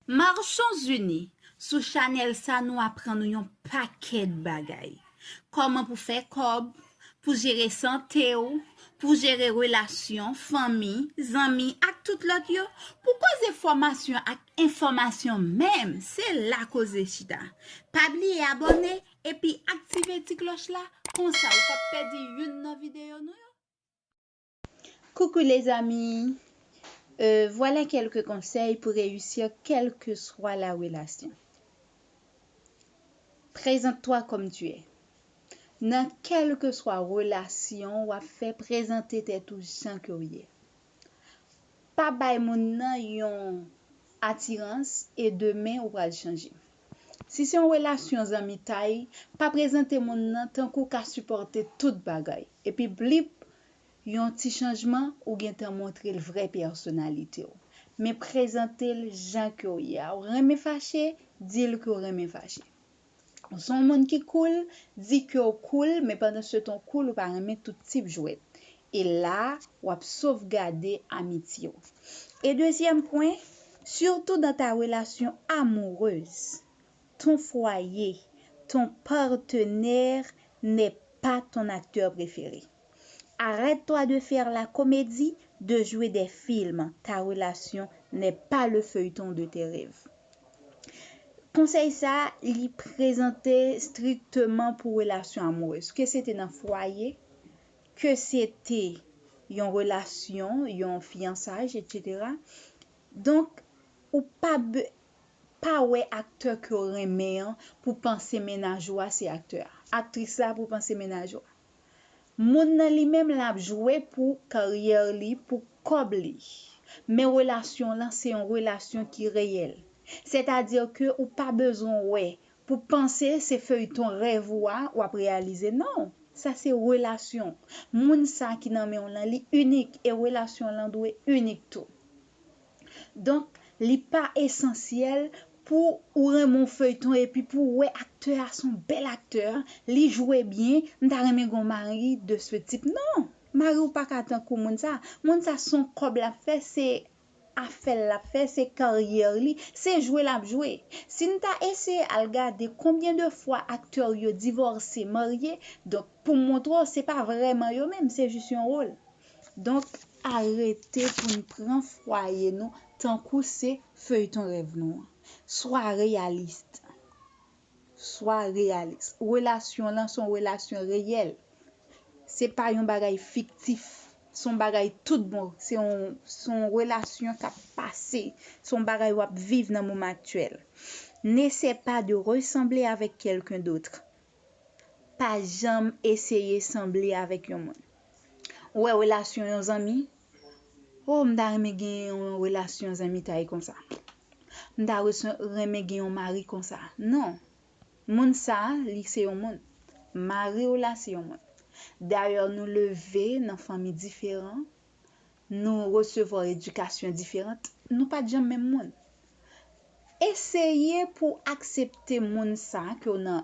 Marchons unis, sou chanèl sa nou aprann ou yon pakèt bagay. Kòman pou fè kòb, pou jere sante w, pou jere relasyon, fanmi, zanmi ak tout lòt yo, pou koze fòmasyon ak enfòmasyon menm, se la koze chita. Pa bliye abòne epi aktive ti klòch la konsa ou pap pèdi youn nan videyo nou yo. Coucou les amis euh voilà quelques conseils pour réussir quelque soit la relation Présente toi comme tu es Nan kelke swa relasyon wap fè prezante tèt ou jan ke w ye Pa bay moun nan yon atirans e demen ou pral chanje Si se yon relasyon zanmitay pa prezante moun nan tankou w ka sipòte tout bagay epi blip Yon ti chanjman ou gentan montre l vrè pèsonalite w. Men prezante l jan ke w ye a. Ou renmen fache, di l ke w renmen fache. Ou se yon moun ki koul, di ke w koul, men pandansetan w koul ou pa renmen tout tip jwèt. E la a, w ap sovgade amitye w. E dezyèm pwen, sitou dan ta relasyon amourez. Ton foyer, ton partenaire n'est pas ton acteur préféré. Arrête toi de faire la comédie, de jouer des films, ta relation n'est pas le feuilleton de tes rêves. Konsèy sa a, li prezante strikteman pou relasyon amourez. Ke se te nan fwaye, ke se te yon relasyon, yon fiyansaj etc. Donk, ou pa, pa wè aktè kew renmen an pou panse mennaj ou a se aktè a, aktris la pou panse mennaj ou a. Moun nan li menm lap jwe pou karyè li pou kòb li. Men relasyon lan se yon relasyon ki reyèl. Sètadi ke ou pa bezwen wè pou panse se feyton rèv ou a wap reyalize non, sa se relasyon. Moun sa ki nan menw lan li inik e relasyon lan dwe inik tou. Donk li pa esansyèl pou ou renmen yon feyton epi pou ou wè aktè a son bèl aktè, li jwe byen, m ta renmen gen yon mari de ce type. Non! Mari w pa ka tankou moun sa. Moun sa son kòb l ap fè, se afè l l ap fè, se karyè li, se jwe l ap jwe. Si n ta eseye al gade konbyen de fwa aktè yo divòse, marye, donk pou montre w se pa vrèman yo menm, se jis yon wol. Donk arete pou n pran fwaye nou tankou se feyton rèv nou an. Swa reyalist. Swa reyalis. Relasyon w lan se yon relasyon reyèl. Se pa yon bagay fiktif. Se yon bagay tout bon. Se yon relasyon k ap pase. Se yon bagay w ap viv nan moman aktyèl. N'essaie pas de ressembler avec quelqu'un d'autre. Pa janm eseye sanble avèk yon moun. Ou wè relasyon yon zanmi, Oh m ta renmen gen yon relasyon zanmitay konsa. M ta renmen gen yon mari konsa. Non. Moun sa, li se yon moun. Mari w la se yon moun. Dayè nou leve nan fanmi diferan, nou resevwa edikasyon diferant, nou pa t janm menm moun. Eseye pou w aksepte moun sa ke w